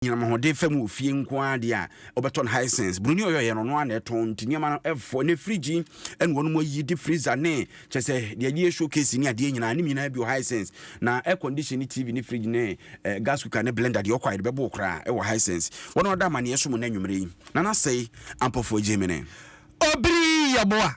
anyinam ahoɔden fam wɔ fie nko ara deɛ a wɔbɛtɔ no Hisense buroni ɔyɛ ɔyɛ no ɔno ara na ɛtɔn nti nneɛma no ɛfɔ ne firigyi ɛna wɔn ayi de freezer ne kyɛ sɛ deɛ yɛde yɛ showcase ne adeɛ nyinaa ne nyinaa bi wɔ Hisense na air condition ne TV ne fridge ne eh, gas cooker ne blender deɛ ɔkɔ a yɛde bɛbɔ koraa ɛwɔ Hisense wɔn a wɔda amaneɛ so mu na anwummere yi na nasɛe ampɔfoɔ gyemene. Obiri yɛboa.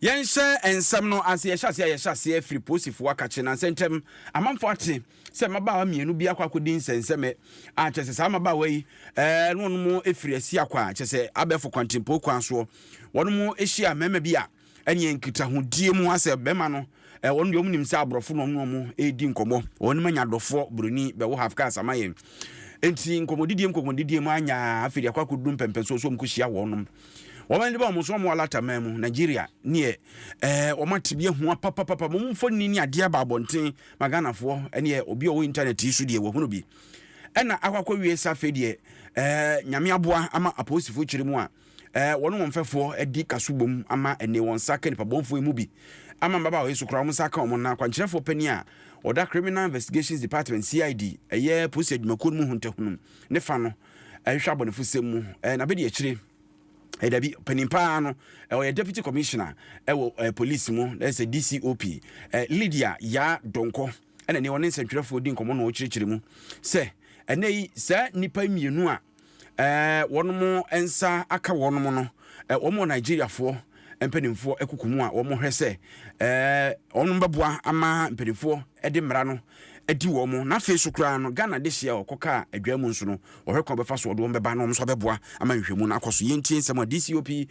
yɛnhyɛ nsɛm no ase yɛhyɛ aseɛ a yɛhyɛ aseɛ firi posifoɔ akakye na nsɛntɛm amanfoɔ ate sɛ mmabaawa mmienu bi akɔ akɔdi nsɛnsɛmɛ a kyɛ sɛ saa mmabaawa yi ɛɛ no wɔn firi asi akɔ a kyɛ sɛ abɛɛfo kwantempo kwan soɔ wɔn hyia mmarima bi a ɛneɛ nkitahodie mu asɛ bɛma no eh, wɔn deɛ wɔn nim sɛ aborɔfo na wɔn ne wɔn redi nkɔmɔ wɔn ma nya dɔfoɔ buroni bɛwɔ half cars ama yɛn nti nkɔmɔdidie nkɔmɔdidie mu anya afei deɛ akɔ akɔdu mpɛmpɛnsoɔ so wɔn kɔhyia wɔnom wɔn ani ba wɔn so wɔn alata man mu nigeria neɛ ɛɛ wɔn atibea hua papapapa wɔn mfoni ne adeɛ aba abɔnten ma ghanafoɔ ɛneɛ obi a ɔwɔ internet yi so deɛ wɔhunu bi ɛna akɔ akɔwie sa afei deɛ ɛɛ nyame aboa ama apolisifoɔ kyerɛ mu a Ɛɛ, wɔne wɔn mfɛfoɔ adi kaso bom ama ɛnnɛ. Wɔn nsa aka nnipabɔnfoɔ yi mu bi. Ama mmabaawa yi so koraa, wɔn nsa aka wɔn. Na akwankyerɛfoɔ panin a ɔda Criminal Investigations Department, CID, ɛyɛ polisi adwumakuo no mu hontahunum ne fa no hwehwɛ abɔnefosɛm mu. Ɛɛ, n'abadiakyire, ɛɛ, dabi, panin pa ara no, ɛɛ, ɔyɛ Deputy Commissioner ɛwɔ ɛɛ, polisi mu, na ɛsɛ DCOP, ɛɛ, Lydia Yaa Donkor, ɛna ɛnnɛ ɔne nsɛntwerɛfoɔ redi nkɔmmɔ na ɔrekyerɛkyerɛ mu sɛ, ɛnnɛ yi, saa nnipa mmienu a, wɔn nsa aka wɔn no, wɔn wɔ Nigeriafoɔ mpanimfoɔ akuku mu a wɔhwɛ sɛ wɔn bɛboa ama mpanimfoɔ de mmara no adi wɔn mo na afei so koraa no Ghana de hyia ɔkɔ kaa adwa mu nso no wɔhwɛ kwan bɛfa so wɔde wɔn bɛba na wɔn nso abɛboa ama nhwɛmu no akɔ so yɛntie nsɛm a DCOP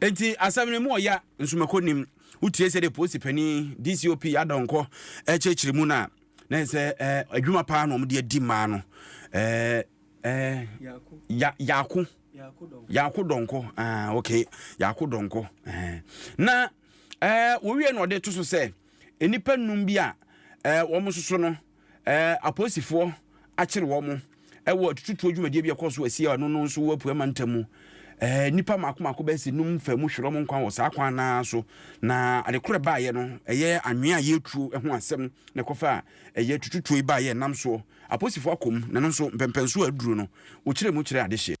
Enti asɛm no mu ɔya nsomako nim. Wotie sɛdeɛ polisi panin DCOP Adɔnkɔ ɛkyerɛkyerɛ mu no a, na ɛyɛ sɛ ɛɛ adwuma paa na wɔde adi mmaa no. Ɛɛ ɛɛ ya yaako yaako dɔnkɔ ah okay yaako dɔnkɔ ɛɛ na ɛɛ wɔwie na ɔde to so sɛ nnipa nnum bi a ɛɛ wɔn soso no. Apolisifoɔ akyere wɔn wɔ atututuo dwumadie bi a ɛkɔɔ so wɔ Asiɛ a ɛno no nso wɔ Apueɛ Mantam mu. Nnipa mmaako mmaako bɛyɛ sɛ num faa mu hwere wɔn nkwa wɔ saa kwan no ara so, na ade korɔ ɛbaeɛ no, ɛyɛ anwea a ɛyɛ tuo ho asɛm na ɛkɔfaa ɛyɛ atututuo yi baeɛ ɛnam soɔ. Apolisifoɔ akɔ mu, na ɛno nso mpɛmpɛnsoɔ a aduru no, wɔkyerɛɛ mu kyerɛɛ adehyeɛ.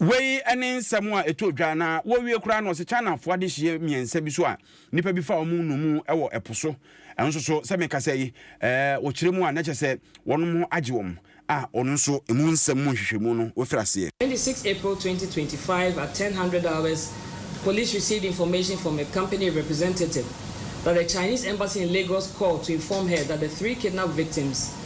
Wei ne nsɛm a ɛtɔɔ dwa na wɔrewie koraa no, ɔse Chinafoɔ adehyeɛ mmiɛnsa bi so a nnipa bi faa wɔn nnommum wɔ ɛpo so nso so, sɛ mekasa yi, wɔkyerɛ mu a na kyerɛ sɛ wɔnom ho agye wɔn a ɔno nso ɛmu nsɛm mu nhwehwɛmu no wafiri aseɛ. Twenty six April twenty twenty five at ten hundred hours police received information from a company representative that the Chinese embassy in Lagos called to inform her that the three kidnapped victims,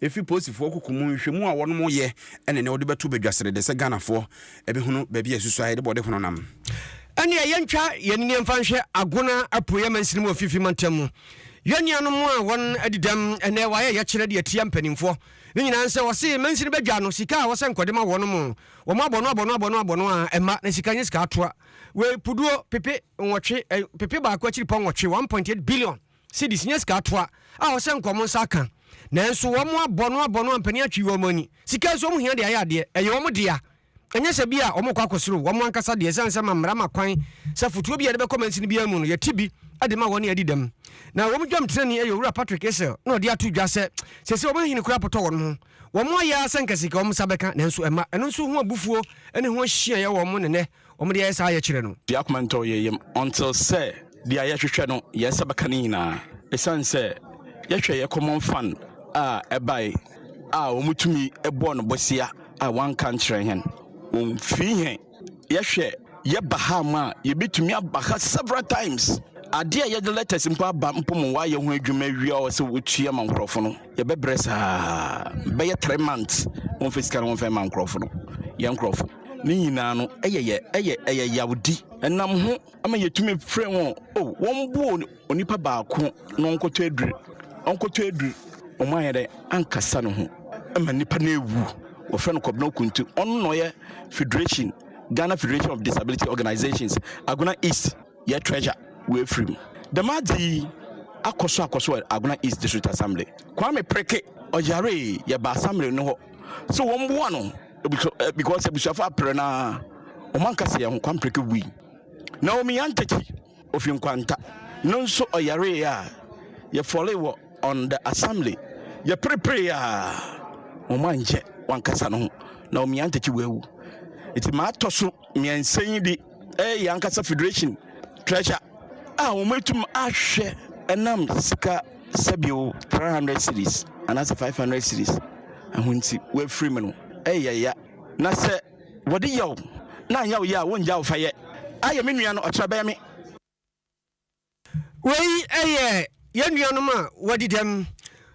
Efi polisifoɔ kuku mu nhwehwɛmu a wɔnom yɛ ɛne nea wɔde bɛto badwa sɛ dede sɛ Ghanafoɔ bɛhunu baabi a ɛsusua yɛde bɔde hono nam. Ɛneɛ yɛntwa yɛn ani mfa nhwɛ Agona apueɛ mansini mu wɔ mfimfini mantam mu. Yɛn nuanom a wɔn adi dɛm ɛnɛ wɔayɛ yɛkyerɛ de atia mpaninfoɔ no nyinaa nsɛ wɔse mansini badwa no sika a wɔsɛ nkɔde ma wɔnom no wɔn abɔ no abɔ no abɔ no abɔ no a ɛmma na sika nyɛ sika atoa wei puduo pepe nwɔtwe pepe baako akyiri pɔ nwɔtwe 1.8 billion cedis nyɛ sika toa a ɔsɛ nka wɔn nsa aka. Nanso wɔn abɔ no abɔ no ampani atwi wɔn ani. Sika nso wɔn hia de ayɛ adeɛ. Ɛyɛ wɔn dea. Ɛnyɛ sɛ bi a wɔn rekɔ akɔserew wɔn ankasa deɛ ɛsiane sɛ ma mmara ma kwan sɛ fotuo bi a yɛde bɛkɔ mansini biara mu no yɛte bi de ma wɔn ne adi dɛm. Na ɛwɔ mu dwam tenani ɛyɛ Owura Patrick Isel na ɔde ato dwa sɛ seesei wɔn ahene koraa potɔ wɔn ho. Wɔn ayɛ ara sɛ nka sika wɔn nsa bɛka nanso ɛmma. Ɛno nso ho abufuo ne ho hyiaeɛ wɔ wɔn ne nnɛ Wɔn deɛ ɛyɛ saa yɛ kyerɛ no. Deɛ akoma ntɔ yɛn yam. Until sɛ deɛ yɛhwehwɛ no yɛn nsa bɛka ne nyinaa. Ɛsiane sɛ yɛhwɛ yɛn common fund a ɛbae a wɔn tumi bɔɔ no bosea a wɔanka nkyerɛ yɛn. Wɔn fii yɛn. Yɛhwɛ yɛ ba ha ma a yɛbɛtumi aba ha several times. Adeɛ a yɛde letters mpo aba mpo mo wɔayɛ ho adwuma awie a wɔsɛ wɔtua ma nkorɔfo no. yɛbɛbrɛ saa bɛyɛ three months wɔmfa sika no wɔmfa ma nkurɔfo no yɛn nkurɔfo ne nyinaa no ɛyɛ yɛ ɛyɛ ɛyɛ yawdi ɛnam ho ama yɛtumi frɛ wɔn o wɔn bu onipa baako na ɔnkɔtɔ aduru ɔnkɔtɔ aduru wɔn ayɛ dɛ ankasa no ho ɛma nipa no ewu wɔfrɛ no kɔbena okuntu ɔno na ɔyɛ federation ghana federation of disability organizations agona east Yɛ treasure wɔ Ephraim. Dɛm adze yi akɔ so akɔ so wɔ Agona East District Assembly. Kwame Preke, ɔyaree, yɛbaa Assembly no hɔ sɛ wɔmboa no because ebusuafo aper no ara, hɔn ankasa hɛnho, Kwame Preke wui. Naomi Antakyi, ofi Nkwanta, no nso ɔyaree a, yɛfɔlee wɔ on the Assembly, yɛpereperee a, hɔn annkyɛ, ɔankasa noho, Naomi Antakyi oewu. Ntsi ma atɔ so miɛnsa yi de, ɛyɛ yɛn ankasa federation treasure a wɔatumi ahwɛ ɛnam sika sɛbio three hundred series anaasɛ five hundred series ɛho nti wɔafiri mu no ɛyɛ ya na sɛ wɔde yaw na anyɛ wo yɛ a wɔngya wo fa yɛ ayɛ me nua no ɔkyerɛ bɛyɛ me Wei yɛ yɛn nuanom a wɔadi dɛm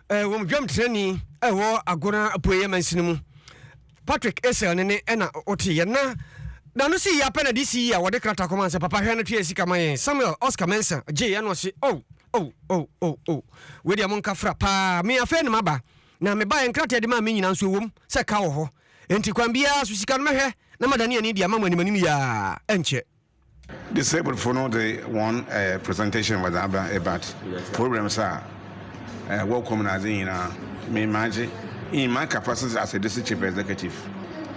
wɔ dwam trani a ɛwɔ Agona Apueeɛ Mansini mu. Patrick Esel ne ne ɛna wote yɛn na n'ano si yɛ apɛ na DC yi a wɔde krataa kɔma sɛ papa hwɛ no tua sika ma yɛn. Samuel Oscar Mensah gye yɛn na ɔse oh oh oh oh oh wei deɛ monka fra paa me afei ne maba na mebaeɛ nkrataa a ɛde maa me nyinaa nso ɛwom sɛ ka wɔ hɔ enti kwan biara so sika no mɛhwɛ na madane ani de ama mo animanim yi ara ɛnkyɛ. Disabled fo no dze hɔn presentation wɔdze aba but problems a wɔ kɔ mu na adze nyina me magye in my capacity as a district chief executive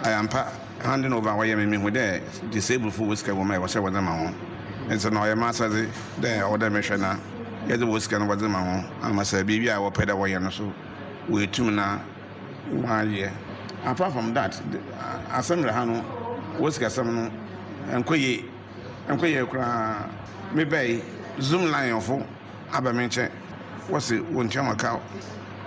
I ampa handing over a wɔyɛ me mehu dɛ disabled fo wɔ sika wɔ mu a ɛwɔ sɛ wɔdze ma hɔn ntsi na ɔyɛ m'asɛdze dɛ ɔwɔ dɛ mehwɛ na yɛdze wɔ sika no wɔdze ma hɔn ama sɛ biribi a wɔpɛ dɛ wɔyɛ no so woetum na Wɔayɛ. Apart from that, asɛm wɔ ha no, wɔ sikasɛm no, ɛnkɔ yie. Ɛnkɔ yie koraa. Me ba yi, Zoom line fo aba me nkyɛn, wɔse wɔntua wɔn ka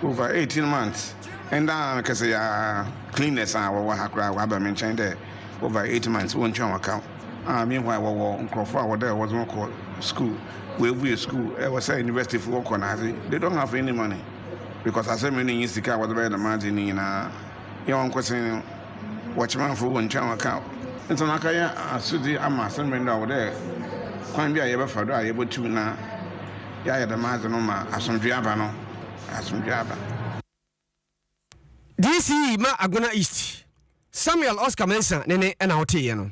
over eighteen months. Ɛnda ara no kɛsɛ yɛ ara, cleaners a wɔwɔ ha koraa wɔaba me nkyɛn dɛ over eight months wɔntua wɔn ka. Ah, meanwhile wɔwɔ nkorɔfo a wɔdɛ wɔdze hɔn kɔ school, woebue school, ɛwɔ sɛ university fo wɔkɔ na adze, they don't have any money. because asɛ me no nye sika a wɔdze bɛyɛ dɛm adze yi ne nyina yɛ ɔnkotsee no wɔkyemafo wɔ nkyɛn wɔka Ntsɛm aka yɛ asodzi ama asɛ me no dɛ ɔwɔ dɛ kwan bi a yɛbɛfa do a yebotum na yɛayɛ dɛm adze no ma asomdwee aba no asomdwee aba. DC ma Agona East. Samuel Oscar Mensah ne ne na woteeɛ no.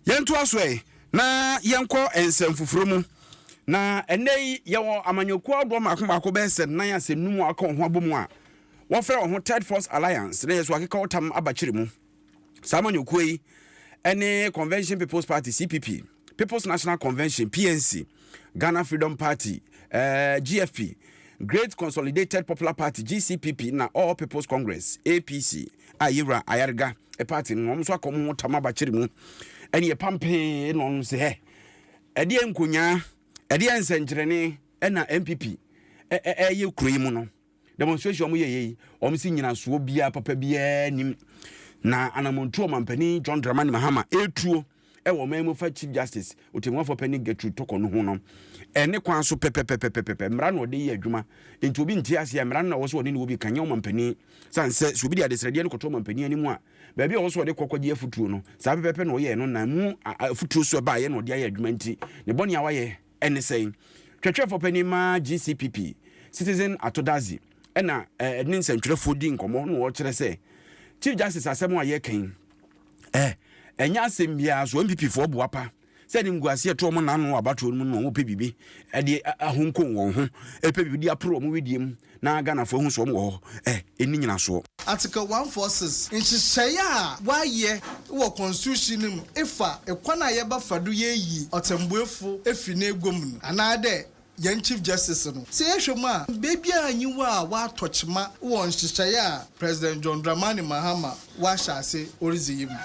Yɛntoa so ɛ na yɛnkɔ nsɛm foforɔ mu. Na ɛnnɛ yi yɛwɔ amanyɔkuo ahodoɔ mmaako mmaako bɛyɛ sɛ nnan a sɛ nnum a wɔaka wɔn ho abɔ mu a wɔfrɛ wɔn ho Third Force Alliance na yɛ so akeka ɔtam aba kyere mu. Saa amanyɔkuo yi ne Convention People's Party, CPP. People's National Convention, PNC, Ghana Freedom Party, eh, GFP, Great Consolidated Popular Party, GCPP, na All People's Congress, APC, a yɛwura Ayariga party no, wɔn nso akɔ mu ho tam abakyere mu, ɛne yɛpam pee na wɔn sɛ, ɛdeɛ nkonyaa, ɛdeɛ nsɛnkyerɛnne ɛna MPP ɛyɛ kuro yi mu no. Demonstration a wɔyɛ yɛ yi, wɔn si nyinasoɔ biara papa biara nim. Na anamɔntuo ɔmampanin John Dramani Mahama etuo ɛwɔ ɔman mu fa Chief Justice Otemmuafoɔ Panin Gertrude Toko no ho no, ɛne kwan so pɛpɛpɛpɛpɛpɛ mmara na ɔde yɛ adwuma. Nti obi nte ase a, mmara no na ɔwɔ sɛ ɔne ne wɔ bi ka, nyɛ ɔmampanin. Sane sɛ, sɛ obi de adesrɛdeɛ no kɔto ɔmampanin anim a, baabi a ɔwɔ sɛ ɔde kɔ kɔgye afutuo no, saa pɛpɛpɛ na ɔyɛɛ no, na mu afutuo so ɛbaeɛ na ɔde ayɛ adwuma nti, ne bɔne a wayɛ, ne sɛn? Twerɛtwerɛfoɔ panin ma GCPP, Citizen Atodadzi, ɛna ɛne nsɛntwerɛfoɔ di nkɔmmɔ na ɔkyerɛ sɛ Chief Justice asɛm a yɛka yi eh, ɛnyɛ asɛm biara so NPP foɔ boapa sɛ animguaseɛ to wɔn nano wɔ abatoɔ no mu no wɔn pɛ biribi ɛde ahonkon wɔn ho ɛpɛ biribi de aporo wɔn wedeɛ mu Na Ghanafoɔ ahu sɛ wɔn wɔ hɔ ɛ, ɛnni nyinasoɔ. Article one four six, Nhyehyɛeɛ a wɔayɛ wɔ Constitution no mu fa kwan a yɛbɛfa do yeeyi ɔtsɛmbuefo efi n'egua mu no, anaadɛ hɛn Chief Justice no. Sɛ yɛhwɛ mu a, beebiara nnyi hɔ a wɔatɔ kyema wɔ nhyehyɛeɛ a President John Dramani Mahama ɔahyɛ ase oridzi yi mu.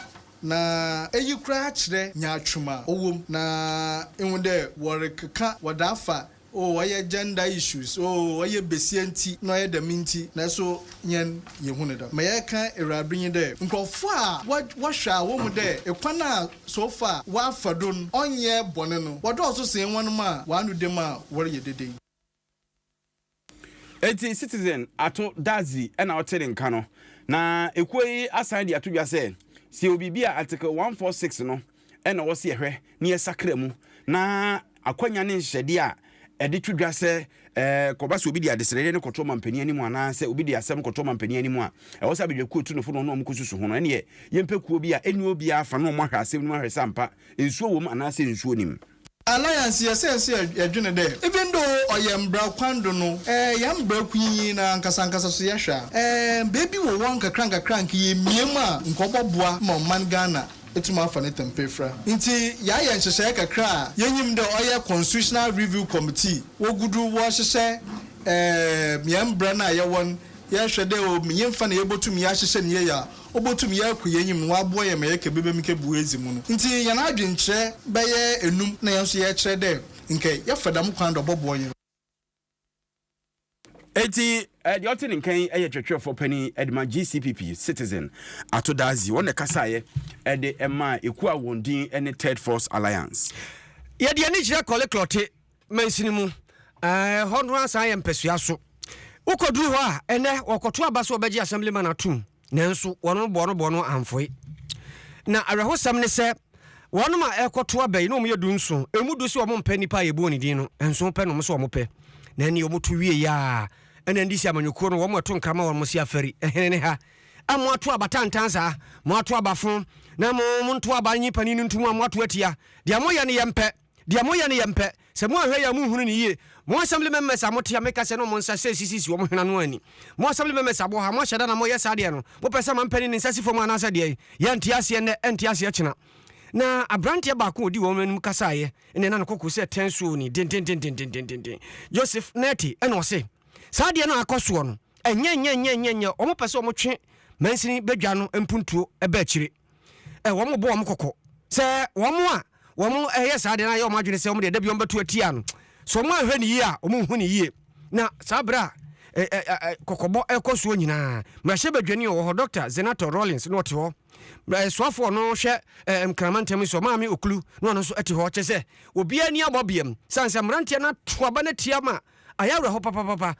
Na iyi koraa kyerɛ nyaatwom a ɔwɔ mu, na ihu dɛ wɔrekeka wɔdze afa Oh ɔyɛ gender issues oh ɔyɛ besia nti na ɔyɛ dɛm nti naaso hɛn yehu no dɛm. Ma yɛreka Ewuradze nye dɛ nkorɔfo a wɔhwɛ a wohu dɛ kwan a so far wɔafa do no ɔnnyɛ bɔn no wɔdɔɔ so sen hɔn mu a wɔano da mu a wɔreyɛ dede yi. Ntsi Citizen ato dadzi na ɔtse ne nka no na ekuo yi asan dze ato dwa sɛ, sɛ yɛwɔ biribi a Article one four six no na ɔwɔ sɛ yɛhwɛ na yɛsakra mu, na akwanya ne nhyehyɛdeɛ a ɛde to dwa sɛ kɔba sɛ obi de adesrɛdeɛ no kɔto ɔmampanin anim anaa sɛ obi de asɛm no kɔto ɔmampanin anim a, ɛwɔ sɛ abadwakuo tunofo na ɔne wɔn kɔsusu ho no, ɛneɛ yɛmpɛ kuo bi a ɛnni obiara fa na wɔn ahwɛ asɛm no mu ahwɛ sɛ ampa nsuo wɔ mu anaasɛ nsuo nim. Alliance yɛ sɛ sɛ yɛdwene dɛ even though ɔyɛ mbra kwan do no, eh, hɛn mbra kunyin no ankasankasa so yɛhwɛ a, eh, mbeebi wɔ hɔ a nkakrankakra a nka yemia mu a nka ɔbɔboa ma ɔman Ghana etum afa ne tam pa efura. Ntsi yɛayɛ nhyehyɛɛ kakra a yenyim dɛ ɔyɛ Constitutional Review Committee, wogu do wɔrehyehyɛ, eh, hɛn mbra no a yɛwɔ no, yɛhwɛ dɛ o, nye mfa na yebotum yɛahyehyɛ no yie a Obotum yɛ akɔ yɛn enyim na ɔaboa yɛn ma yɛkã biribi mu kebu edzi mu no. Ntsi hɛn adwenkyerɛ bɛyɛ enum na hɛn so yɛrekyerɛ dɛ nkyɛ yɛfa dɛm kwan do a ɔbɔboa hɛn. Ntsi deɛ ɔte ne nkan yɛ kyerɛkyerɛfoɔ panin de ma GCPP Citizen Ato Dadzie. Wɔn na ɛkasaeɛ de maa ekuo a wɔn din ne Third Force Alliance. Yɛde ani kyerɛ kɔleklɔte mansini mu. Ɛhɔ no ara san yɛ mpasua so. Wokɔduru hɔ a, ɛnɛ wɔkɔto aba sɛ wɔbɛgye Assemblyman atom, nanso wɔn boɔnoboɔ no amfoe. Na awerɛhosɛm ne sɛ, wɔn a ɛrekɔto aba yi na wɔyɛ du nson, ɛmu du sɛ wɔmpɛ nipa a yɛbɔɔ ne din no, nson pɛ na wɔn sɛ wɔpɛ. Na ɛnneɛ wɔto wieeɛ a, ɛna NDC amanyɔkuo no wɔn ɛto nkra ma wɔn se afari, ɛhene ne ha a moato aba tantan saa, moato aba fo na mo monto aba nyi panin no nto mu a moato atia. Deɛ moyɛ no yɛmpɛ. Deɛ moyɛ no yɛmpɛ. Sɛ moanhwɛ yie a monhunu no yie. Mo assembly members a mote ha meka sɛ ne ɔmo nsa sɛ sisisi ɔmo hwene ano anni. Mo assembly members a moha moahyɛ da na moyɛ saa deɛ no mopɛ sɛ manpanin ne nsa si fam anaasɛ deɛn? Yɛnte aseɛ nnɛ ɛnte aseɛ kyena. Na abranteɛ baako a ɔdi wɔn anim kasaeɛ nnɛ na ne koko sɛ tɛn soo ni dendendendendendenden. Joseph Nette ɛna ɔse saa adeɛ no a akɔ soɔ no ɛnyɛ nyɛ nyɛ nyɛ nyɛ ɔmo pɛ sɛ ɔmo twe mansini badwa no mpuntuo ba akyire. ɛ wɔn bɔ wɔn kɔkɔ sɛ wɔn a wɔn ɛyɛ saa deɛ na ayɛ wɔn adwene sɛ wɔn deɛ dabi wɔn bɛto atia no so wɔn anhwɛ ne yie a wɔn nhu ne yie na saa berɛ a ɛ ɛ ɛ kɔkɔbɔ ɛkɔ soɔ nyinaa mmarahyɛ badwani ɔwɔ hɔ Dr. Zenator Rawlings na ɔte hɔ ɛsoafoɔ ɔno hwɛ ɛ nkrama ntam nso maame okulu na ɔno nso ɛte hɔ kyɛ sɛ obiara ni abɔ biam sane sɛ mmeranteɛ no ato aba no atia ma ayɛ awerɛhɔ papapapa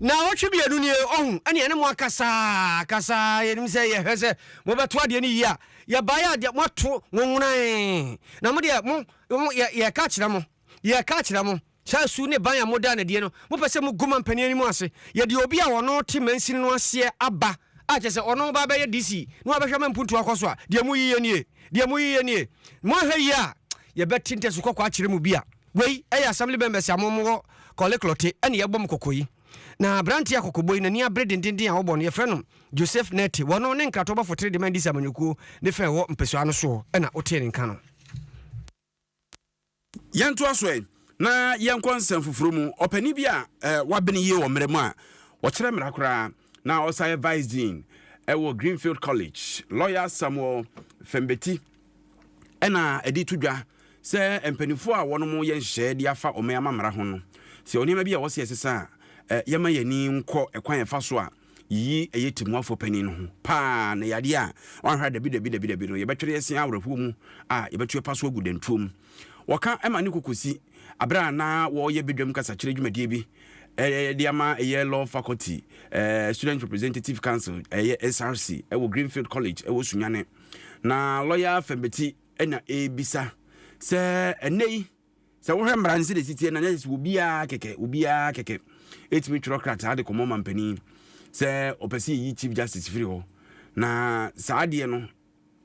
Naawɔtwe mmienu nie ɔhu ɛne ɛne mo akasaa kasaa yɛnim sɛ yɛhwɛ sɛ mobɛto adeɛ no yie a yɛbaeɛ adeɛ moato nwonwonae na mo deɛ mo yɛka kyerɛ mo Yɛreka akyerɛ mo, saa su ne ban a modaa no adie no, mopɛ sɛ mogu ma mpanin anim ase. Yɛde obi a ɔno te mansini no aseɛ aba, a kyerɛ sɛ ɔno ba abɛyɛ DC, na wabɛhwɛ ma mpuntuo akɔ so a, deɛ moyiye nie, deɛ moyiye nie. Moanhwɛ yie a, yɛbɛte ntasu kɔkɔɔ akyerɛ mo bi a. Wei yɛ Assembly members a mowɔ Korle Klottey na yɛbɔ mo kɔkɔ yi. Na aberanteɛ a kɔkɔbɔ yi n'ani abere dendenden a wɔbɔ no, yɛfrɛ no Joseph Nettey. Wɔno ne nkratoɔbɔfo tere de ma Ndisi amanyɔkuo ne fɛ a ɛwɔ mpasua no soɔ na wotee ne nka no. Yɛntoa so ɛ, na yɛnkɔ nsɛm foforo mu. Ɔpanin bi a wabene yie wɔ mmara mu a ɔkyerɛ mmara koraa na ɔsan yɛ Vice Dean wɔ Greenfield College, Lɔya Samuel Fembeti na ɛde to dwa sɛ mpanimfoɔ a wɔnom yɛ nhyehyɛeɛ de afa ɔman amammara ho no, sɛ yɛwɔ nneɛma bi a ɛwɔ sɛ yɛsesa a, yɛmma yɛn ani nkɔ ɛkwan a ɛfa so a Yiyi ɛyɛ timuafo panyin no ho paa na ɛyɛ adeɛ a wanhwɛ a dabi dabi dabi dabi no yɛbɛtwere asia awerɛhoɔ mu a yɛbɛto ɛpa so agu dantuo mu. Wɔka ma ne kokosi aberɛ a na wɔreyɛ badwam kasakyerɛ dwumadie bi de ama ɛyɛ Law Faculty Student Representative Council, ɛyɛ SRC, wɔ Greenfield College wɔ Sunyani. Na lɔya Fembeti na ɛrebisa sɛ ɛnnɛ yi, Sɛ wohwɛ mmara no sɛdeɛ ɛsi teɛ no, na ɛsɛ sɛ obiara kɛkɛ, obiara kɛkɛ ɛtumi twerɛ krataa de kɔma ɔmampanin sɛ ɔpɛ sɛ yɛyi Chief Justice firi hɔ. Na saa adeɛ no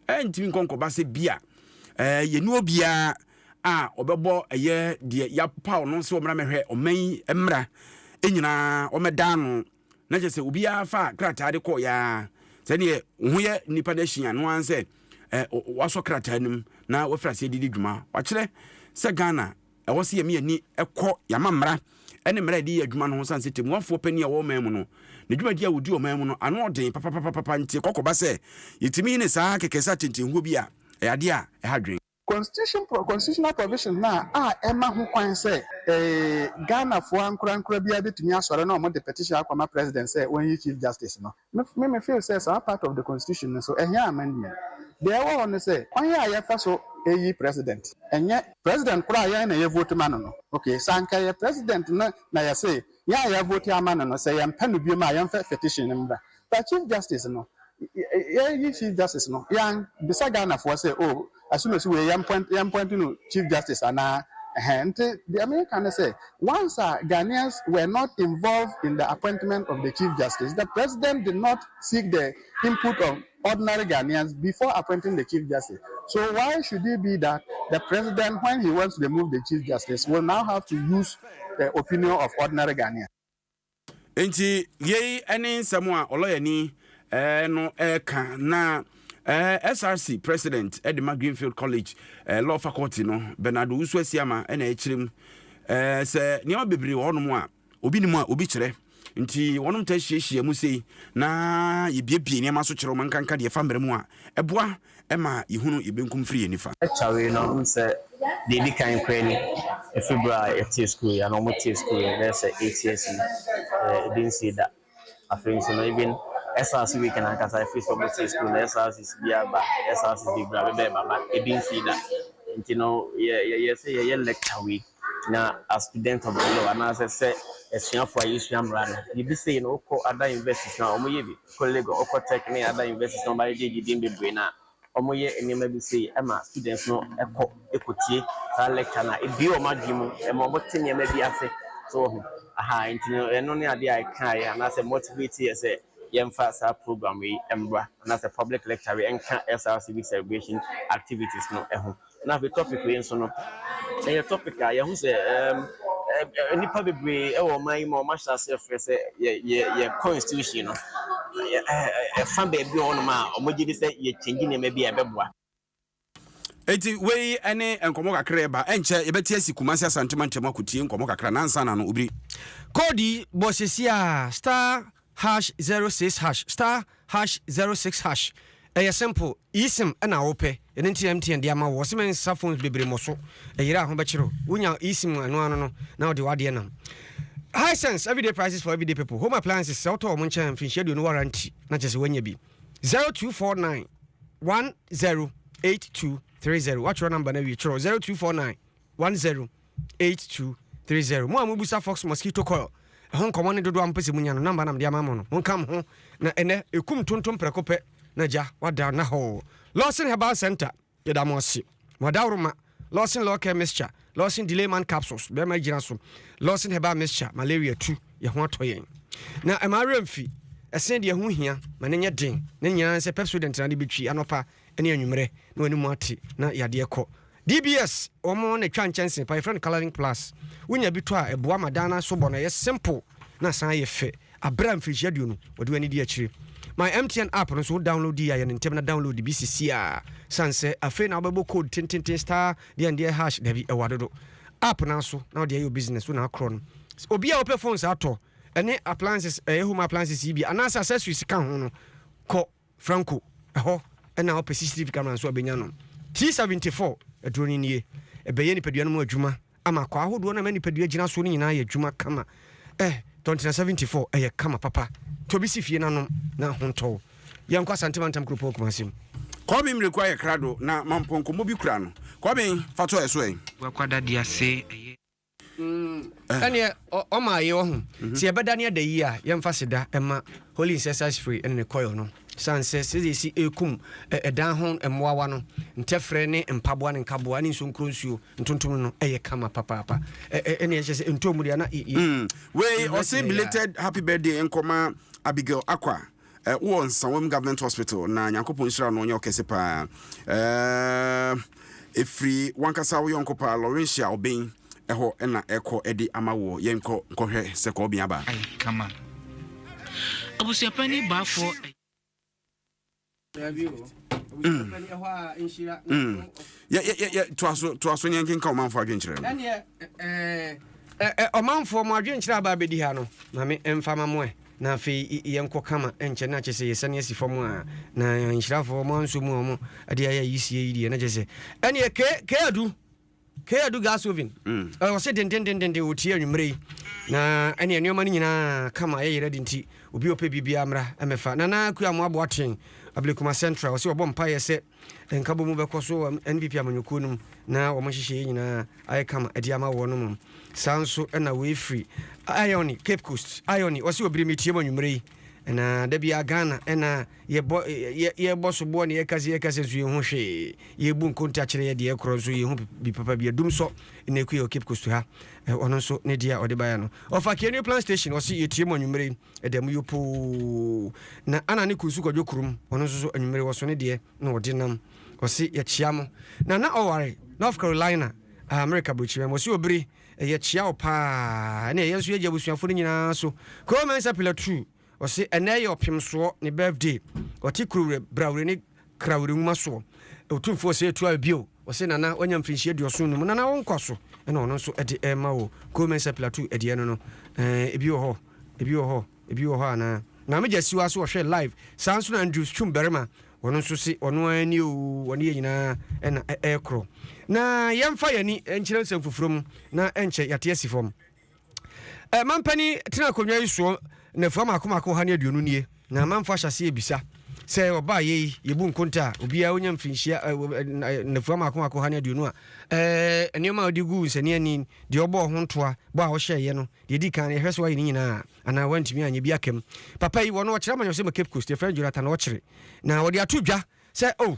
ɛntumi nkɔnkɔba sɛ bi a eh, yɛne obiara a ɔbɛbɔ ɛyɛ deɛ yɛapaw no sɛ ɔmmra mɛhwɛ ɔman yi mmra nyinaa ɔmɛda ano Na kyerɛ sɛ obiara faa krataa de kɔɔeɛ ara. Sɛ deɛ wo ho yɛ nnipa no ahyia no ara ne sɛ wɔasɔ krataa no mu na wɔafiri aseɛ de di dwuma. Wɔakyerɛ sɛ Ghana ɛwɔ sɛ yɛma yɛn ani kɔ yɛn amammara ne mmara a yɛde yɛ adwuma no ho sane sɛ tɛmmuafoɔ panin a ɔwɔ ɔman mu no, ne dwumadie a ɔdi ɔman mu no ano ɔden papapapapa nti ɛkɔ kɔba sɛ yɛtumi ne saa akɛkɛsɛ atentenhuo bi a ɛyɛ adeɛ a ɛha adwene. Constitutional provision no a ɛma ho kwan sɛ Ghanafoɔ ankorankora biara bɛtumi asɔre na wɔde petition akɔma President sɛ ɔnyi Chief Justice no, me me feel sɛ saa part of the Constitution no nso ɛhia amendment. Deɛ ɛwɔ hɔ ne sɛ, kwan a yɛfa so yi President, ɛnyɛ. President korɔ a yɛn na yɛ vote ma no no, ok, sɛ anka ɛyɛ President no na yɛse yɛn a yɛ vote ama no no, sɛ yɛmpɛ no biom a yɛmfa petition mmra. But chief justice no yɛyi chief justice no yan bisa Ghana foɔ sɛ oh Asumasi wei yɛn point no chief justice anaa ɛhɛn nti deɛ me ka ne sɛ once a Ghanaians were not involved in the appointment of the chief justice the president did not seek the input of ordinary Ghanaians before appointing the chief justice so why should it be that the president when he wants to remove the chief justice will now have to use the opinion of ordinary Ghanaians. Enti yei ne nsɛm a ɔlɔyani eh, no reka eh, na eh, SRC president eh, de ma Greenfield College eh, Law Faculty no Bernardo Usu Asiama eh, na ɛkyerɛ mu eh, sɛ nneɛma bebree wɔ hɔnom a obi nim a obi kyerɛ nti wɔnom ta hyiahyia mu sei na yɛbiebie nneɛma so kyerɛ wɔn nkanka deɛ ɛfa mmerɛ mu a ɛboa ɛma yɛhunu yɛn benkum firi yɛn nifa. Kyɛw yi na wohu sɛ deɛ ɛdi kan koraa ni, ɛfiri berɛ a yɛtee sukuu yi anaa wɔtee sukuu yi bɛyɛ sɛ eight years yi, ɛbi nsii da. Afei nso no even SRC week no ankasa ɛfiri sɛ wɔtee sukuu no SRCs biara ba, SRCs bebree a bɛbɛɛba but ɛbi nsii da. Nti no yɛyɛɛ sɛ yɛyɛ lecture wei. Na as student of the law anaasɛ sɛ asuafoɔ a yɛsua mmara no, biribi sei no wokɔ ada universities no a wɔyɛ bi, wokɔ Lagos, wokɔ Tech ne ada universities no a wɔayɛ JG din bebree no a, wɔyɛ nneɛma bi sei ma students no kɔ kɔtie saa lecture no a ɛbue wɔn adwene mu, ɛma wɔte nneɛma bi ase, so wahu aha nti no ɛno ne adeɛ a ɛkaa yɛn anaasɛ motivate yɛn sɛ yɛmfa saa program wei mmra anaasɛ public lecture wei nka SRCB celebration activities no ho. Na afei topic wei nso no ɛyɛ topic a yɛho sɛ um, nnipa bebree wɔ ɔman yi ma wɔn ahyɛ ase ɛfrɛ sɛ yɛ yɛ yɛ constitution no ɛfa baabi wɔ hɔnom a wɔn gye di sɛ yɛ change nneɛma bi a ɛbɛboa. Eti wei ɛne nkɔmɔ kakra ɛba ɛnkyɛ yɛbɛte asi Kumasi Asantuma ntam akotie nkɔmɔ kakra nansa na no obiri. Koodi bɔ sesia star Hash zero six hash star hash zero six hash ɛyɛ simple eSIM ɛna wopɛ ɛno nti na MTN de ama wo wɔse mensa phones bebree mmɔ so ɛyera a ho bɛkyere wo wonya eSIM ɛno ano no na wode wadeɛ nam Hisense everyday prices for everyday people home appliances sɛ wotɔ wɔn nkyɛn mfinhyia aduonu warranty na kyerɛ sɛ woanya bi zero two four nine one zero eight two three zero woatwerɛ number no awie twerɛ zero two four nine one zero eight two three zero. Mo a mobisa Fox Mosquito Coil ɛho nkɔmmɔ ne dodoɔ a mopɛ sɛ monya no, namba na mede ama mo no, monka mo ho na ɛnɛ ɛkum tontom prɛko pɛ na gya wada na hɔɔ. Lawson Herbal Centre, yɛda mo ase. Mo adaworoma, Lawson Law Care Mixture, Lawson Delay Man Capsules, bɛrima gyina so, Lawson Herbal Mixture, malaria tu, yɛn ho atɔ yɛn. Na ɛma awerɛ mfi, ɛsene deɛ ɛho hia, ma no nyɛ den, ne nyinaa ne sɛ Pepsodent na de bɛtwi anɔpa. ne anwummerɛ na w'anim ate na yadeɛ kɔ. DBS wɔn na ɛtwa nkyɛnse pa, yɛfrɛ no colouring plus. Wonya bi tɔ a ɛboa ma dan no asobɔ no ɛyɛ simple na asan ayɛ fɛ. Abrɛ a mfirihyia aduonu wɔde w'ani di akyire. My MTN app no nso wo download die a yɛ no ntɛm na download bi sisi ara. Sane sɛ afei na wobɛbɔ code tententen star deɛn deɛn hash dabi ɛwɔ adodo app no ara so na wode ayɛ wo business wo na akorɔ no. Obi a ɔpɛ phones atɔ ɛne appliances ɛyɛ home appliances yi bi anaasɛ accessories ka ho no kɔ. Franco hɔ na ɔpɛ sisiri fi camera nso a ɔbɛnya no. T-74, Aduro no nie. Ɛbɛyɛ nipadua no mu adwuma ama akwaa ahodoɔ no a ɛma nipadua gyina soɔ no nyinaa ayɛ adwuma kama. Eh, Tɔntena 74, ɛyɛ kama papa. Tɔ bi si fie na nom na ho ntɔ wo. Yɛnkɔ Asante Mantam Kuropɔn Kumasi mu. Kɔben mmireku ayɛ krado na mampɔnkɔmmɔ bi kura no. Kɔben, fa tɔ ɛso ɛ. Gua Kwada Diase, ɛyɛ. Ɛneɛ ɔma ayɛ wahu. Sɛ yɛbɛda ne ada yie a yɛmfa aseda ma Holy Incessant Spray ne ne coil no sane sɛ sɛdeɛ ɛsi ɛkum ɛdan ho mmoawa no ntɛfrɛ ne mpaboa ne nkaboa ne nsonkuro nsuo ntontom no yɛ kama papaapa ɛneɛ kyɛ sɛ ntɔɔ mu deɛ na Wei ɔse belated happy birthday nkɔma Abigail Akwa Wɔ Nsawam Government Hospital na Nyankopɔn nhyira no ɔnyɛ ɔkɛse paa eh, ɛfiri wankasa wo yɔnko paa Laurentia Obeng ɛhɔ na ɛkɔ ɛde ama woɔ yɛn nkɔ nkɔhwɛ sɛ kɔɔ bia baa. Ai kama abusuapani baafoɔ. Mm. Mm. yɛ yɛ yɛ yɛ to aso to aso nyɛ nkenka ɔmanfoɔ adwenkyerɛ no. ɛneɛ ɛɛ ɔmanfoɔ mo adwenkyerɛ aba abɛdi ha no maame mfama mo ɛ. na afei yɛnkɔ kama nkyɛ na kyerɛ sɛ yɛsane asi fam a, na nhyirafoɔ ɔmo ansɔ mu a ɔmo de ayɛ ayisie yi deɛ na kyerɛ sɛ ɛneɛ K K Adu K Adu Gasovin ɛ ɔse dendendendenden ɔtie anwummerɛ yi na ɛneɛ nneɛma no nyinaa kama yɛyɛ ready nti obi a ɔpɛ biribiara mmra mmɛfa Nana Akuamoah Boateng Ablekuma Central ɔse wabɔ mpaeɛ sɛ Nkabɔmu bɛkɔ so wɔ NPP amanyɔkuo no mu na wɔn nhyehyɛeɛ nyinaa ayɛ kama de ama wɔn mmom. Saa nso na wei firi Ione, Cape Coast, Ione, ɔse ɔbiri me tie mo anwummerɛ yi na da biara Ghana na yɛbɔ yɛ yɛbɔ soboɔ na yɛka sɛ yɛka sɛ nso yɛnhu hwee yɛbu nkonta kyerɛ yɛ deɛ korɔ nso yɛnhu bi papa bi adum sɔ na ɛkue wɔ Cape Coast ha ɔno nso ne deɛ a ɔde baeɛ no ɔfa Kenew Plant Station ɔse yɛtie mo anwummerɛ yi ɛda mu yopoo. Na ana ne kunu nso kɔdwo kurom, ɔno nso so anwummere wɔso ne deɛ na ɔde nam. Ɔse yɛkyea mo. Na na ɔware North Carolina, Amerika Aburokyirima mu. Ɔse obere, yɛkyea wo paa, ɛne ɛyɛ nso yɛgye abusuafoɔ no nyinaa so. Cole Mensah Pilatu, ɔse ɛnnɛ yɛ ɔpemsoɔ, ne birthday. Ɔte Kurowerɛ, Brawerɛ ne. kra werɛnwuma soɔ. Otumfoɔ Osei toaa bio, ɔse Nana wanya mfirinhyia aduɔson num, Nana wo nkwa so na ɔno nso de rema wo. Koo Mensah Plateau ɛdeɛ no no eh, ebi wɔ hɔ, ebi wɔ hɔ, ebi wɔ hɔ anaa? Maame Gyasiwa nso ɔhwɛ live, saa nso na Andrews Twum barima, ɔno nso se ɔno ara ni oo, ɔne yɛn nyinaa na ɛrekorɔ. Na yɛmfa yɛn ani nkyerɛ nsɛm foforɔ mu na ɛnkyɛ yɛate asi fam. Eh, mampanin tena akonnwa yi soɔ nnafua mako mako ɔha ne aduonu nie, na amanfo ahyɛ aseɛ rebisa sɛ ɔbaa yei yɛbu nkonta a obiara ɔnya mfirinhyia eh, eh, eh, nnafua mako mako ɔha ne aduonu a eh, nneɛma a ɔde gu nsɛnneani, deɛ ɔbɔɔ ho ntoa, bɔ a ɔhyɛeɛ no, deɛ ɛdi kan no yɛhwɛ sɛ wayɛ ne nyinaa anaa wantumi anyɛ bi aka mu. Papa yi, wɔn ɔkyerɛ amanyɔsɛm Cape Coast, yɛfrɛ no Jonathan Ɔkyere, na wɔde ato dwa sɛ, oh,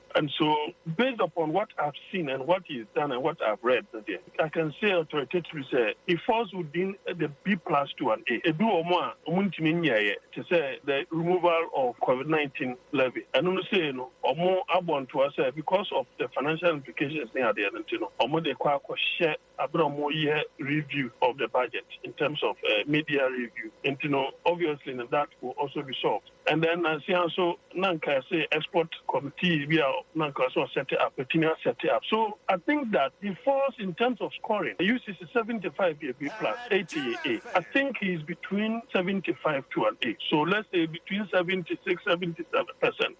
And so based upon what I have seen and what he has done and what I have read no deɛ, I can say authoritatively sɛ he falls within the B plus to an A. Ebi wɔ mo a ɔmo ntumi nyɛɛyɛ te sɛ the removal of covid nineteen levy. Ɛno no sei no ɔmo abɔ ntoa sɛ because of the financial implications ne adeɛ no nti no ɔmo de kɔ akɔhyɛ Aber a wɔreyɛ review of the budget in terms of media review ntsi no obviously no that will also be solved and then nansia so na nka yɛse export committee bi a na nka ɔsɛ ɔsɛte up etumi asɛte up so I think that he falls in terms of scoring UCC seventy five yɛ B plus eighty yɛ A I think he is between seventy five to an A so let's say between seventy six seventy seven percent.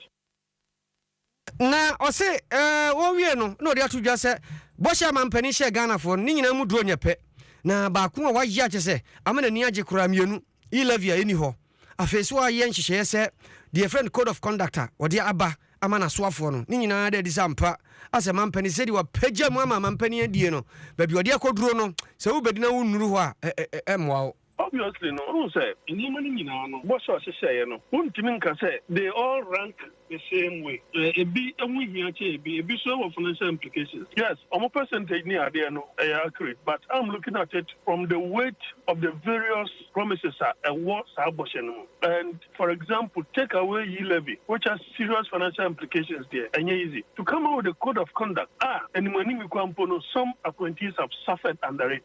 Na ɔse ɔwie no na ɔde ato dwa sɛ bɔhyɛ a manpanin hyɛɛ Ghanafoɔ no, ne nyinaa mu duro nyɛ pɛ. Na baako a wayɛ a kyerɛ sɛ ama n'ani agye koraa mmienu, e-levy a ɛnni hɔ. Afei nso wayɛ nhyehyɛeɛ sɛ deɛ yɛfrɛ no code of conduct a ɔde aba ama n'asoafoɔ no. Ne nyinaa da adi sɛ ampa asɛ manpanin sɛdeɛ wapagya mu ama manpanin adie no, baabi a ɔde akɔduro no, sɛ wobɛdi na wonnuru hɔ a, ɛremmoa wo. Obviously no, wohu sɛ nneɛma no nyinaa no, bɔ sɛ ɔhyehyɛeɛ no, wontumi nka sɛ they all rank the same way. Ɛɛ, ebi ho hia kyɛn ebi, ebi nso wɔ financial implications. Yes, wɔn percentage ne adeɛ no, ɛyɛ accurate, but I'm looking at it from the weight of the various promises a ɛwɔ saa bɔhyɛ no mu. And for example, take away yi levy, which has serious financial implications deɛ, ɛnyɛ easy. To come out with a code of conduct a animuanimikwa mpo no, some appointees have suffered under it.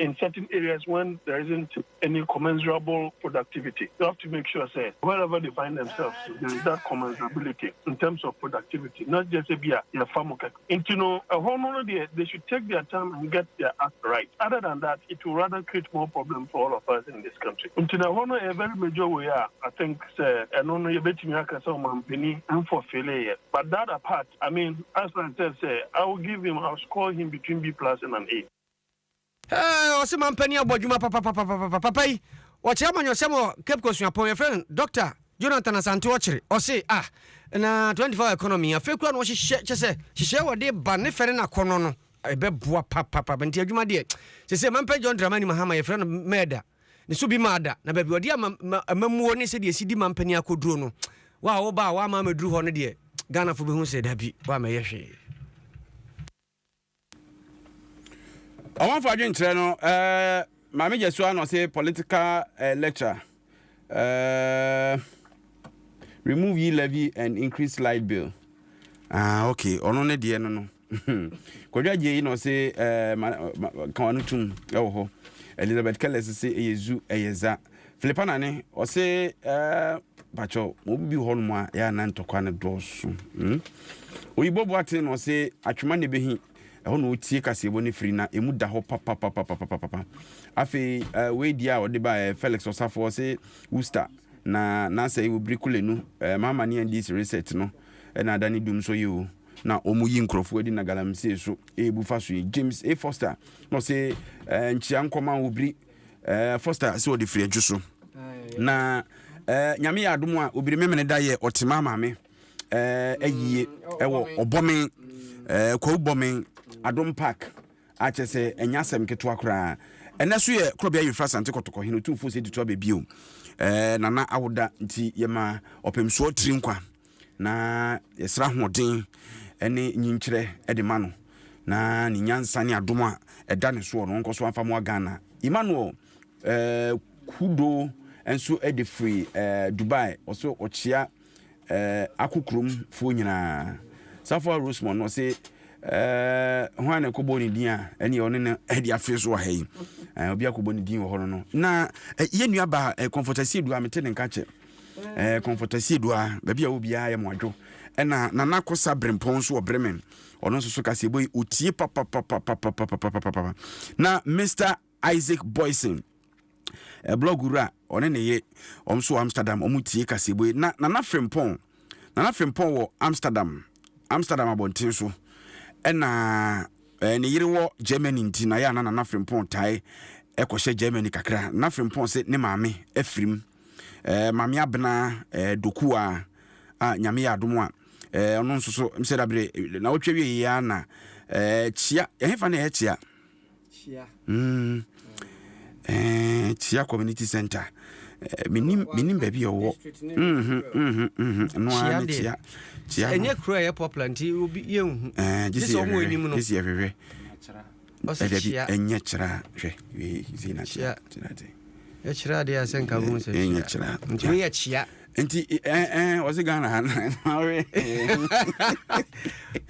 in certain areas when there isn't any commensurable productivity they have to make sure sɛ wherever they find themselves there is that commensurability in terms of productivity not just sɛ bi a yɛfa mo kɛkɛ nti no ɛhɔ no no deɛ they should take their time and get their act right other than that it will rather create more problems for all of us in this country nti na ɛhɔ no ɛyɛ very major way a I think sɛ ɛno no yɛbɛtumi aka sɛ ɔmampani mfɔfele yɛ but that apart I mean as I said sɛ I will give him I will score him between B plus and an A. Ɛɛ ɔse mampanin abɔ adwuma papapapapapa papa yi ɔkyerɛ amanyɔsɛm wɔ Cape Coast Suapɔn yɛfrɛ no Doctor Jonathan Asante ɔkyere ɔse ah na 24 hour economy afei kura na ɔhyehyɛ kyɛ sɛ hyehyɛ wɔde ba ne fɛ ne nakɔnɔ no ɛbɛboa papapapa nti adwuma deɛ sese mampɛ John Dramani Mahama yɛfrɛ no mɛɛda ne so bi maada na baabi ɔde ama amamuo ne sɛdeɛ esi di mampanin akɔduro no wa a woba a wama amɛduru hɔ no deɛ Ghana fo bɛhu sɛ dabi wa mɛyɛ hwee. Ɔmanfo adwenkyerɛ no, eh, Maame Gyasuwa na ɔse political eh, lecture. Eh, remove ye levy and increase light bill. Ah, okay, ɔno ne deɛ no no. Kwadwo agye yi na ɔse eh, ma, ma, ka ɔno tum ɛwɔ hɔ. Elizabeth Kellis se ɛyɛ zu, ɛyɛ za. Filipa nane ɔse pakyɛw mo bi hɔ nom a yɛ anan ntɔkwa no dɔɔso hmm? oyibɔ boaten na ɔse atwema ne behi ɛhɔ na ɔtie kaseɛbɔ no firi na ɛmu da hɔ papapapapapapa afei uh, wei deɛ a ɔde baɛ felix ɔsafo ɔse worcester na nasɛ wɔ biri kole no uh, mama ne andis reset no ɛna ada ne dum so yɛ o na ɔmo yi nkurɔfoɔ adi na galamsey so ɛɛbu fa so yɛ james a foster na ɔse uh, nkyia nkɔma wɔ biri Eh, Foster sɛ ɔde firi adwo so. Na eh, nyame yɛ adom a obiri memene da yɛ ɔtema ma me eh, ayie mm, ɛwɔ ɔbɔme eh, kwawu bɔme adom park akyɛ sɛ ɛnya asɛm ketewa koraa ɛnɛ so yɛ korɔbea yɛfra sante kɔtɔkɔ hene otumfoɔ sɛ tutu abɛbio eh, nana awoda nti yɛma ɔpemsoɔ tiri nkwa Na yɛsrɛ ahoɔden ne nyinkyerɛ de ma no, na ne nyansa ne adom a ɛda ne soɔ no, ɔnkɔ so amfa mmoa Ghana. Emmanuel eh, Kudo nso de firi eh, Dubai, ɔsɛ ɔkyea eh, ako kurom foɔ nyinaa. Safoa Rosemond no ɔsɛ eh, hwan na ɛkɔbɔ ne din a ɛne ɔne no de afiri so wɔ ha yi. Eh, obi akɔbɔ ne din wɔ hɔ no no. Na eh, yɛn nuabaa eh, Comfortasie Dua, mete ne nka kyɛ. Eh, Kɔmfɔtase Adua, baabi a wɔ biara yɛ mo adwo. Ɛna Nana Kosa Brempɔn nso wɔ Bremen, ɔno nso so kaseɛbɔ yi ɔtie papapapapapapapapapa. Na Mister Isaac Boysen, eh, blog wura, ɔne ne ye, wɔn nso wɔ Amsterdam, wɔn tie kaseɛbɔ yi. Na Nana Frimpɔn, Nana Frimpɔn wɔ Amsterdam, Amsterdam abɔnten so. Ɛna eh, ne yere wɔ Germany nti na yɛ a na Nana Frimpɔn tae ɛkɔhyɛ Germany kakra. Nana Frimpɔn sɛ ne maame afirim. eh, Mame Abena eh, Doku a, a Nyame yɛ adom a, eh, ɔno nso so, mesɛ da bere, na wotwa wie yɛ a na, eh, kyia, ɛhefa na ɛyɛ kyia? Kyia. Mm. Eh, kyia Community Center. Eh, menim, menim baabi a ɔwɔ. Mhm, mhm, mhm. No a ne kyia. Kyia. Ɛnyɛ kuro a ɛyɛ popular nti obi yɛnhu. Eh, gyesi yɛhwehwɛ. Gyesi yɛhwehwɛ. Ɔsi kyia. Ɛdabi ɛnyɛ kyerɛ hwɛ wei zi na kyerɛ kyerɛ de. Ɛkyerɛ adeɛ a sɛ nka bu sɛ kyerɛ. Ɛnyɛ kyerɛ. Nti ne yɛ kyia. Nti ɛn ɛn ɔsi Ghana ha na ɔwe.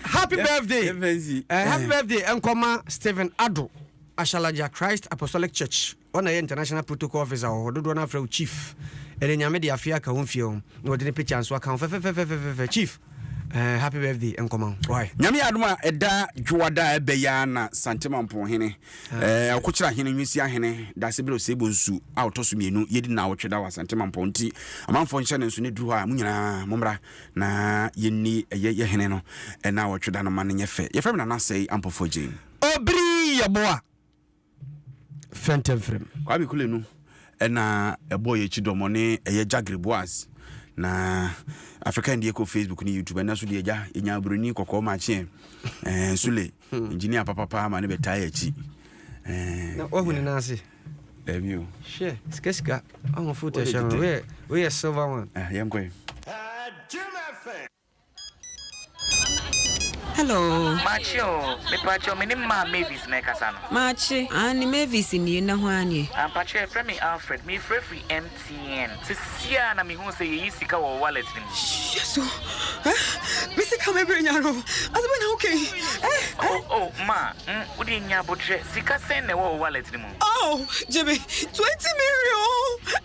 Happy birthday. Ɛfɛnsi. Eh, happy birthday nkɔma Stephen Ado Ashalaja Christ Apostolic Church. Hɔ na yɛ international protocol officer wɔ hɔ dodoɔ no afrɛ wo chief ɛnɛ nyame de afeɛ aka wo mfeɛ ho na wɔde ne picture nso aka ho fɛfɛfɛfɛfɛfɛ chief ɛɛ happy birthday nkɔma ho why. Nyame yɛ adom a ɛda dwoada a ɛbɛ yi ara na Santimampong hene, ɛɛ Ɔkokyera hene, Nwisia hene, Dasebrɛ Osebo nsu a ɔtɔ so mmienu yɛdi nnawɔtwe da wɔ Asantemanpɔn nti amanfoɔ nhyɛ no nso na ɛduru hɔ a mo nyinaa mo mmra na yɛnni ɛyɛ yɛ hene no nnawɔtwe da no ma no nyɛ fɛ. Yɛfrɛ me Nana Asɛe Ampɔfoɔ Jane. Obiri yɛ boa fɛntɛmfrɛm. Kwame Kule no na ɛbɔɔ yɛn akyi dɔm, ɔne ɛyɛ Jagre Boaz. Na African deɛ kɔ Facebook ne YouTube, ɛnɛ so deɛ agya yɛnya obroni kɔkɔɔ ma kyeɛ eh, Sule, hmm. engineer papapa ma ne bɛtaa yɛ akyi. Eh, na wahu ne nan ase? Dabi o. Hwɛ, sikasika, ɔho foto ɛhyɛ no, woyɛ silver one. Ah, yɛnkɔe. Hello. Makye o, mepakyɛw menim maa Mavis na ɛkasa no. Makye, aane Mavis nie, na hwan nie? Ampakyɛ yɛfrɛ me Alfred, meefrɛ firi MTN, sesei ara na mehuu sɛ yɛyi sika wɔ wo wallet no mu. Yesu eh me sika me bere nyare o, ade bɛn na woka yi eh eh. Oh oh ma mm wodeɛ nnya abotrɛ, sika sɛn na ɛwɔ wo wallet no mu? Oh gye me twenty million.